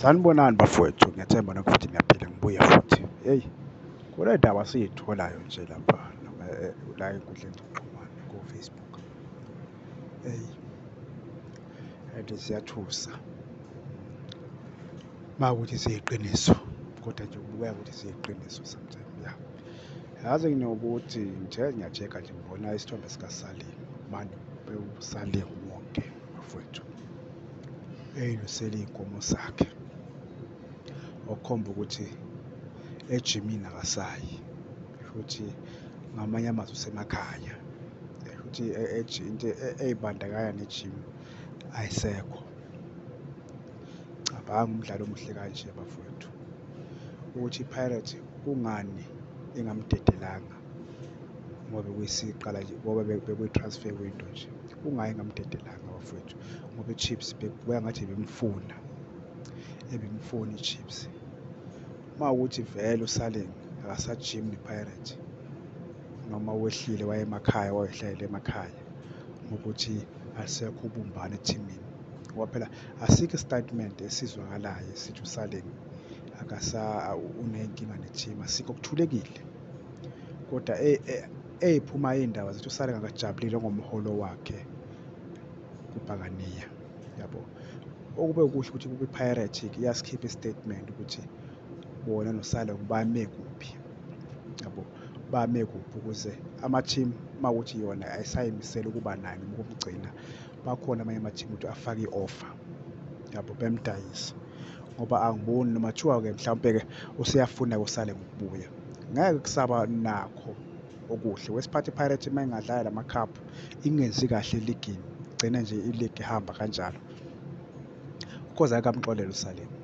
Sanibonani bafowethu, ngethemba nokho futhi niyaphila ngibuye futhi. Hey, kule ndaba siyitholayo nje lapha eh, la enkundleni zokuxhumana ko-Facebook. Hey. And siyathusa. Uma ukuthi siyiqiniso kodwa nje kubukeka ukuthi siyiqiniso sometimes ya. Yazi nginokuthi ngithe ngiyacheka nje ngibona isithombe sikaSalim. Manje bewuSalim wonke bafowethu. eyilusele iy'nkomo zakhe okukhomba ukuthi ejimini akasayi futhi ngamanye amazwi usemakhaya futhi into ey'bandakanya nejimu ayisekho cabanga umdlalo omuhle kanje bafowethu ukuthi ipirates kungani ingamdedelanga ngoba bekuyisiqala nje ngoba bekwi-transfer window nje kungaye ngamdedelanga bafowethu ngoba i-chips bekubuya ngathi ebimfuna ebimfuna i-chips uma ukuthi vele usaleng akasajim ne-pirate noma wehlile wayemakhaya wayehlalela emakhaya ukuthi asekho ubumbane ethimini ngoba phela asikho isitatimende esizwakalayo sithi usaleng akasa unenkinga nethima sikho kuthulekile kodwa eyiphuma e, e, iy'ndaba zithi usale ngakajabulile ngomholo wakhe kubhakaniya yabo okube ukusho ukuthi kwi-piratic iyasikhipha i-statement ukuthi bona nosale bame kuphi yabo bame kuphi ukuze ama-team uma ukuthi yona ayisayimisele ukuba naye noma ukumgcina bakhona amanye ama-team ukuthi afake i-offer yabo bemdayisa ngoba angiboni noma kuthiwa-ke mhlawumpe-ke useyafuna kusale ngokubuya ngeke kusaba nakho okuhle wesiphathi ipirates uma ingadlala la makhaphu ingenzi kahle eligini igcine nje iligi ihamba kanjalo ukhoza akamxolele usaleni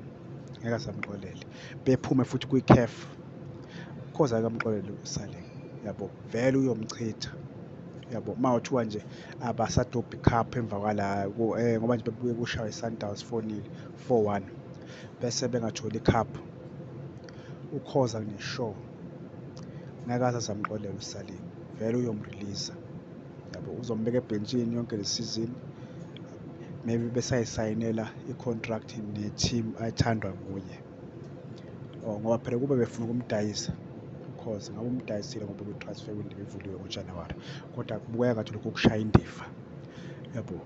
ngeke asamxolele bephume futhi kwi-caf ukhoza akamxolele usaleni yabo vele uyomchitha yabo uma uthiwa nje abasadobhi cup emva kwala eh, ngoba nje bebuye kushawa i-sundowns fonile four one bese bengatholi cup ukhoza ngishow ngeke aze azamxolela usalini vele uyomreleasa yabo uzombeka ebhentshini yonke le sizini maybe besayisayinela i-contract ne-team ayithandwa nguye oh ngoba phela kube befuna ukumdayisa ukhozi ngabe umdayisile ngoba kwi-transfer window ivuliwe ngojanuwari kodwa kubukeka ngathi lokhu kushaya indiva yabo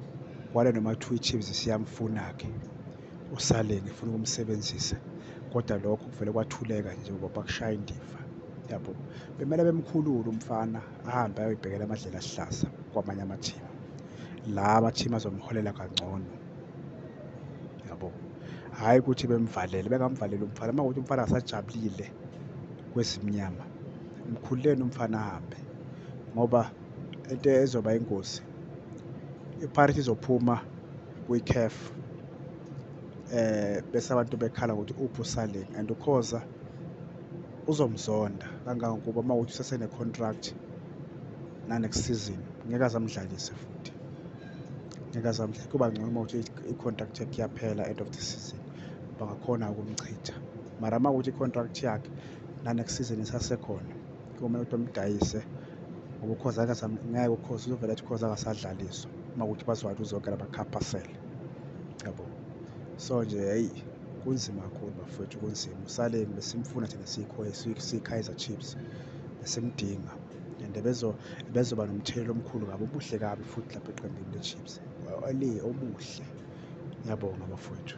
kwale noma kuthiwa i-chiefs siyamfuna-ke usaleni ifuna ukumsebenzisa kodwa lokho kuvele kwathuleka nje ngoba bakushaya indiva yabo bemele bemkhulule umfana ahambe ayoyibhekela amadlela ahlasa kwamanye amathimu la amathimu azomholela kangcono yabo hhayi ukuthi bemvalele bengamvaleli umfana uma kuthi umfana asajabulile kwezimnyama mkhululeni umfana ahambe ngoba into ezoba ingozi iparithi izophuma kwi-caf eh bese abantu bekhala ukuthi uphi usaling and ukhoza uzomzonda kangangokuba uma ukuthi usesene-contract nanext season ngeke azamdlalise futhi ngeke azamhle kuba ngcono uma ukuthi i-contract yakhe iyaphela end of the season bangakhona ukumchitha mara uma ukuthi i-contract yakhe nanext season isasekhona kumele ukuthi bamdayise ngoba ukhoza ngeke ukhoza uzovela athi ukhoza akasadlaliswa uma ukuthi bazwathi uzonke labakhapasele yabo so nje hayi kunzima kakhulu bafowethu kunzima usaleni besimfuna thina sikho sikhizer chiefs besimdinga and bezoba nomthelela omkhulu kabi obuhle kabi futhi lapha eqembini le-chips obuhle ngiyabonga bafowethu